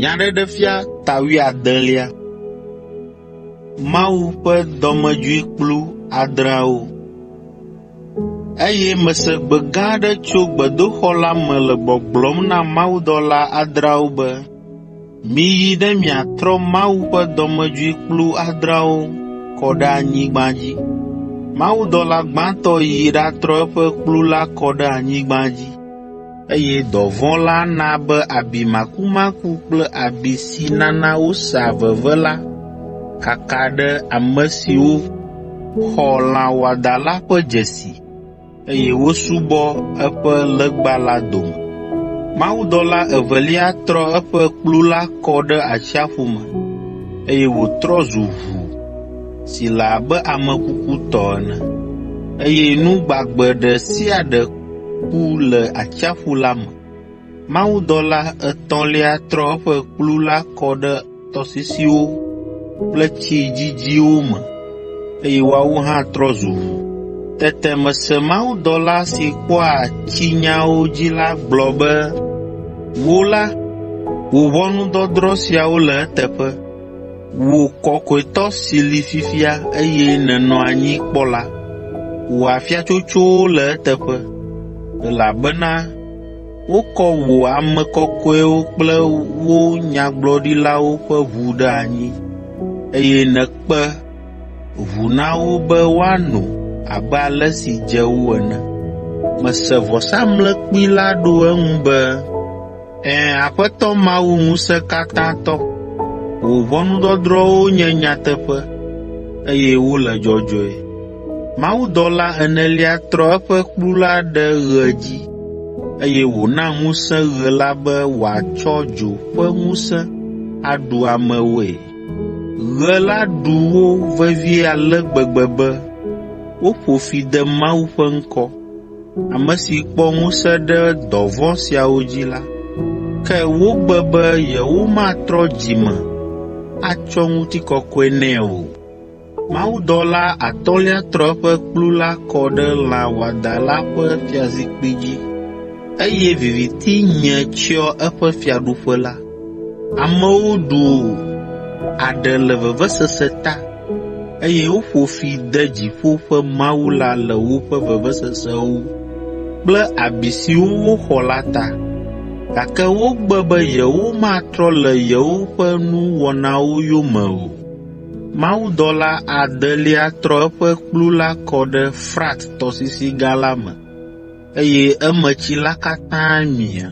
Nyaɖeɖefia ta wuiadelia. Mawu ƒe dɔmedzoe kplu adreawo. Eye mese gbe gã aɖe tso gbedoxɔ la me le gbɔgblɔm na mawudɔla adreawo be, Miyi ɖe miatrɔ Mawu ƒe dɔmedzoe kplu adreawo kɔ ɖe anyigba dzi. Mawudɔla gbãtɔ yi ɖatrɔ eƒe kplu la kɔ ɖe anyigba dzi, eye dɔvɔ̃ la na be abi makumaku kple abi si nana wosea veve la kaka ɖe ame siwo xɔ lã wɔadã la ƒe dzesi. eye wosubɔ eƒe legba la dome. Mawudɔla evelia trɔ eƒe kplu la kɔ ɖe atsiaƒu me, eye wòtrɔ zu ʋu si le abe ame kuku tɔ ene, eye nu gbagbe ɖe sia ɖe ku le atsiaƒu la me. Mawudɔla etɔ̃lia trɔ eƒe kplu la kɔ ɖe tɔsisiwo kple tsi dzidziwo me, eye woawo hã trɔ zu ʋu. Tete mese mawudɔla si kpɔa tsinyawo dzi la gblɔ be, “Wò la, wò ʋɔnudɔdrɔ̃ siawo le eteƒe. Wò Kɔkɔetɔ si li fifia eye nènɔ anyi kpɔ la, wò afiatsotsowo le eteƒe, elabena Wokɔ wò ame kɔkɔewo kple wo nyagblɔɖilawo ƒe ʋu ɖe anyi, eye nèkpe ʋu na wo be woano abe ale si dze wo ene. Mese vɔsamlekpui la ɖo eŋu be, “Ẽ, Aƒetɔ Mawu Ŋusẽkatãtɔ, wò ʋɔnudɔdrɔ̃wo nye nyateƒe, eye wole dzɔdzɔe.” Mawudɔla enelia trɔ eƒe kplu la ɖe ɣe dzi, eye wòna ŋusẽ ɣe la be wòatsɔ dzo ƒe ŋusẽ aɖu amewoe. Ɣe la ɖu wo vevie ale gbegbe be woƒo fi de Mawu ƒe ŋkɔ, ame si kpɔ ŋusẽ ɖe dɔ vɔ̃ siawo dzi la. Ke wogbe be yewomatrɔ dzi me atsɔ ŋutikɔkɔe nɛ o. Mawudɔla atɔ̃lia trɔ eƒe kplu la kɔ ɖe lã wɔadã la ƒe fiazikpui dzi, eye viviti nye tsyɔ eƒe fiaɖuƒe la. Amewo ɖu aɖe le vevesese ta, eye woƒo fi de dziƒo ƒe Mawu la le woƒe vevesesewo kple abi siwo woxɔ la ta. Gake wogbe be yewomatrɔ le yewoƒe nuwɔnawo yome o. Mawudɔla adelia trɔ eƒe kplu la kɔ ɖe Frat tɔsisi gã la me, eye emetsi la katã mia,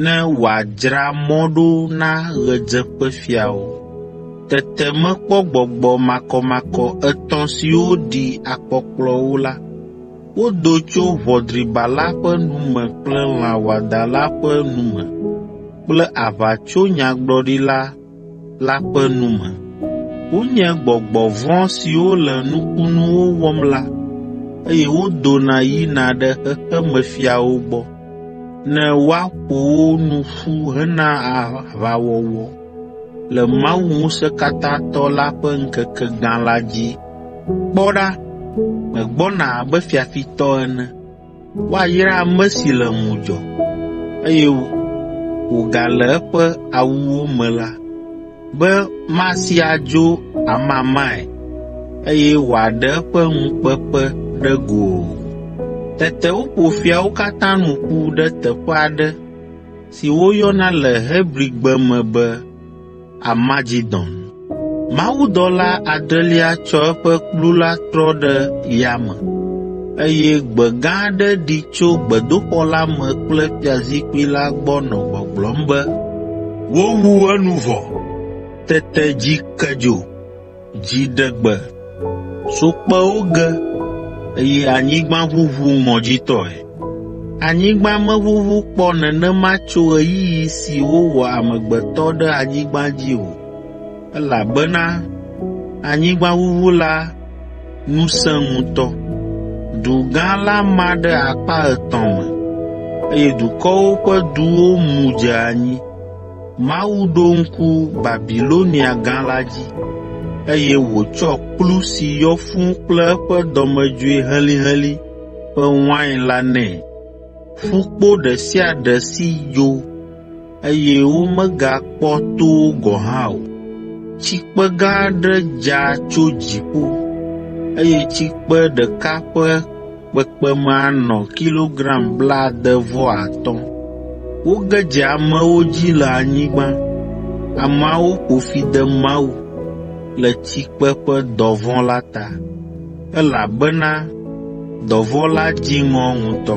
ne wòadzra mɔ ɖo na ɣedzeƒefiawo. Tete mekpɔ gbɔgbɔ makɔmakɔ etɔ̃ siwo ɖi akpɔkplɔ wo la. Wodo tso ʋɔdriba la ƒe nu me kple lã wɔadã la ƒe nu me kple aʋatsonyagblɔɖila la ƒe nu me. Wonye gbɔgbɔ vɔ̃ siwo le nukunuwo wɔm la, eye wodona yina ɖe xexemefiawo gbɔ ne woaƒo wo nu ƒu hena aʋawɔwɔ le Mawu Ŋusẽkatãtɔ la ƒe ŋkeke gã la dzi. Kpɔ ɖa, megbɔna abe fiafitɔ ene. Woayra ame si le ŋudzɔ, eye wògale eƒe awuwo me la, be masi adzo amamae, eye wòaɖe eƒe ŋukpeƒe ɖe go o. Tete woƒo fiawo katã nu ƒu ɖe teƒe aɖe si woyɔna le Hebrigbe me be, Armagedon. Mawudɔla adrelia tsɔ eƒe kplu la trɔ ɖe yame, eye gbe gã aɖe ɖi tso gbedoxɔ la me kple fiazikpui la gbɔ nɔ gbɔgblɔm be, “Wowu enu vɔ!” Tete dzi ke dzo. Dziɖegbe so kpewo ge, eye anyigba ʋuʋu ŋɔdzitɔe. Anyigba meʋuʋu kpɔ nenema tso ɣeyiɣi si wowɔ amegbetɔ ɖe anyigba dzi o, elabena anyigbaʋuʋu la nu sẽ ŋutɔ. Du gã la ma ɖe akpa etɔ̃ me, eye dukɔwo ƒe duwo mu dze anyi. Mawu ɖo ŋku Babilonia Gã la dzi, eye wòtsɔ kplu si yɔ fũu kple eƒe dɔmedzoe helĩhelĩ ƒe wain la nɛ. Ƒukpo ɖe sia ɖe si dzo, eye womegakpɔ to wo gɔ̃ hã o. Tsikpe gã aɖe dza tso dziƒo, eye tsikpe ɖeka ƒe kpekpeme anɔ kilogram blaade vɔ atɔ̃. Woge dze amewo dzi le anyigba. Ameawo ƒo fi de Mawu le tsikpe ƒe dɔvɔ̃ la ta, elabena dɔvɔ̃ la dzi ŋɔ ŋutɔ.